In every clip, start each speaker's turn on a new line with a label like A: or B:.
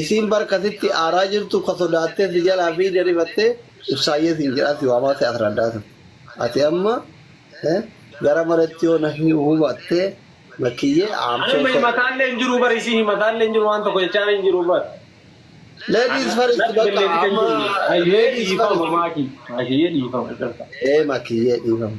A: Isiin bar ka sitti aaraa jirtu ka sodaattee si jalaa fiigde rifattee ibsaayyee siin jedhaa si waamaa si asraddaa sun. Ati amma eh, gara maretti yoo na hi- hubattee makkiyyee I'm Ani so amma sorry. himataallee hin
B: jiru bar isiin himataallee hin jiru waan tokko jechaan hin jiru bar. Ladies
A: first Natti bakka galleetti kan amma jirru. Makiyyee ladies first. dhiifama
B: maaki. Makiyyee dhiifama. Ee makkiyyee
A: dhiifama.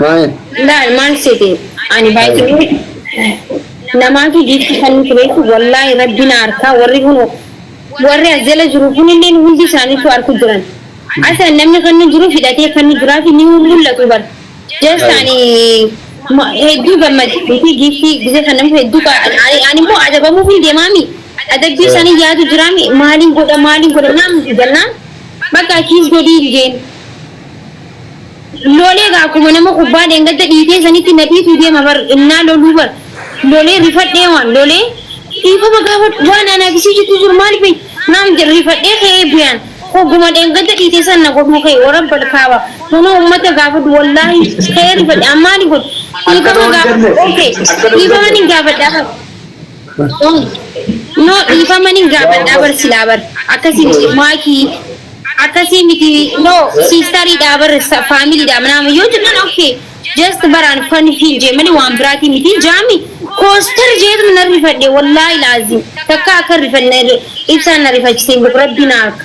A: Maal? Laal maal
C: seete ani baay'ee namaafi giiftii kannitu beektu wallaahi rabbi na arkaa warri kun warri as jala jiru kunilleen hundi isaanitu arku jiran asa namni kannu jiru hidhatee kannu jiraafi ni mullatu bar just ani hedduu gammade beekii giiftii gizee kannamu hedduu animmoo adabamuufin deemaami adabbii isaanii yaadu jiraami maaliin godha maaliin godha naamti jennaan bakka kiis godhii jeen Lolee gaa akkuma nama kubbaa dheengadda dhiitee sanitti na dhiituu deema bar innaa loluu bar lolee rifadhee waan lolee dhiifama gaafadhu waan anaa fi si jidduu jiru maali beeyta naan jedhe rifadhee ka'ee biyaan hogguma dheengadda dhiite san na godhuu ka'e warabbal kaaba kunoo ummata gaafadhu wallaahi ka'ee rifadhe an maali godhu dhiifama gaafadhu ok dhiifama nin gaafadha bar. No dhiifama nin gaafadhaa bar silaa bar akkasi miti maaki akkasi miti no sistarii dhaa bar family dhaa manaama yoo jennan ok just bar an fan hin jee mali waan biraatii miti jaami kooster jeetuma nan rifadhe wallaahi laazim takka akka rifanne ibsaan na rifachise hin beku rabbiin akka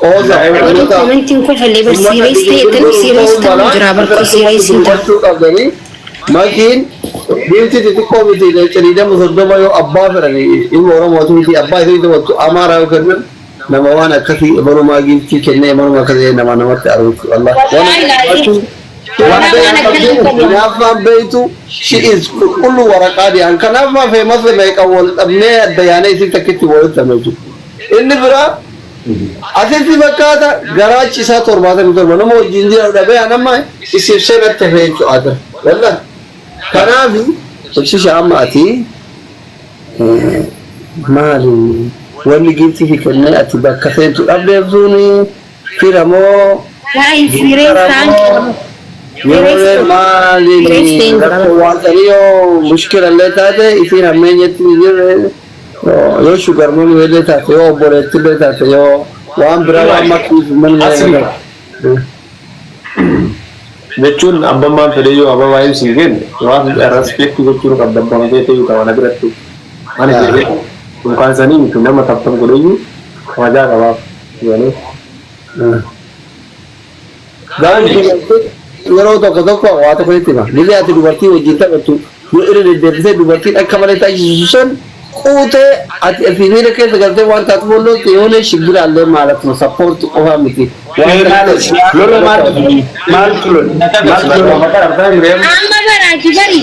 A: Qoosa, Eebbifamtoota, ummata
C: biyya bulchuu milka'uun mala sirratti ummata itti hubachuu qabdanii Makiin
A: Giiftii xixiqqoo miti Leenca 20 30 yoo abbaa fedhan ilma Oromooti miti abbaa isiin taphattu Amaaraa yoo kennan nama waan akkasii imalumaa Giiftii kennee imaluma akka ta'ee namaa namatti aruuchu Allah waan akkasii baachuun waan beeku qabdu hinaaffaan beektu she is qulqulluu waraqaa diyaan kanaaf maa famous meeqan wal dhabnee adda yaanee isiin takkitti walitti hafna jechuudha inni biraa Atletii fakkaata garaachi isaa torbaatamii torba nama wajjin jiran dhabee an amma isif senatti hafee jechuu adra wallahi kanaafi ibsisha amma ati maali wanni giifti fi kennee ati bakka seentu dhabdeef suuni fira moo
C: gintara moo
A: yerooleen maaliin rakkoo waan sanii yoo mushkila illee taate isiin hammeenyatti jirre Yoo sugar mommy illee taate yoo obboleetti illee taate yoo waan biraa waan Ilaahi. makkiif manni Asii. jedhama.
B: jechuun abbammaan fedheyyuu abba waa'een siin jenne waan respect gochuun qabda abbaan kee ta'uu qaba na biratti ani Yaa. jedhee yookaan sanii miti nama taptan godheyyuu kabajaa qabaaf jedhanii
A: Garuu dubartoota yeroo tokko tokko waa tokko sitti hima. Gizee ati dubartii wajjin taphattu yoo irra deddeebisee dubartiin akka malee taasisisu san quutee ati ofii miira keessa galtee waan taatuuf ol loolte yoonee shibbiraallee maal akkuma sappoorti qofaa miti. Waan Seenaale
D: lola maaltu maaltu lola maaltu lola. Amma
C: baraati bari.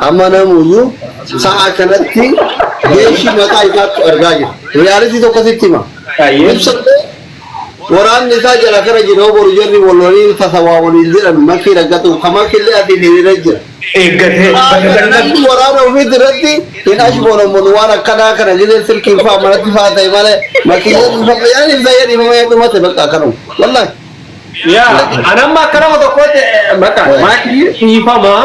A: Amma namuyyuu sa'a kanatti geeshii mataa isaatti argaa jira. Riyaalitii tokko sitti hima. Ibsa waraanni isaa jala kara jira yoo boru jarri wal waliin tasa waa waliin jedhan makii raggatu ka makiillee asiin hiriira jira. Eeggatee bakka kana Namni waraana ofiitti irratti hin ashboonammoon waan akkanaa kana gidee silkiin faa manatti faa ta'e malee makiileen dhufama yaan ibsa yaan dhifama yaan dhumate bakka akkanuma. Wallahi. Yaa,
B: anamma akka nama tokkootti bakka maakii dhiifamaa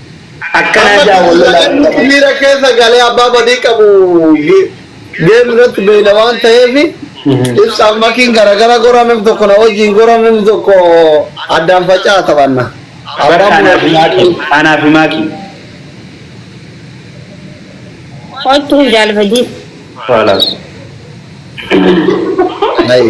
D: Amma Akkana jedha Wallolaa Muzamirn Mustafa. miira keessa
A: galee abbaa badii qabu ge- geerri irratti beeyna waan ta'eef ibsaan makiin garagara gora namni tokko na wajjin gora namni tokko addaan faca'aa taphanna. Bar Abbaan anaa fi maakii. muratu
D: Anaa fi maakii.
C: Kottu jaal badii. Faalaas.
D: Ayi.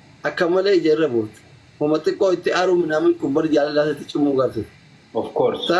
A: Akka malee ija irra buufte. Homa xiqqoo itti aaruu minaamin kun bar jaalalaa isatti cimuu garte. Of course. Ta.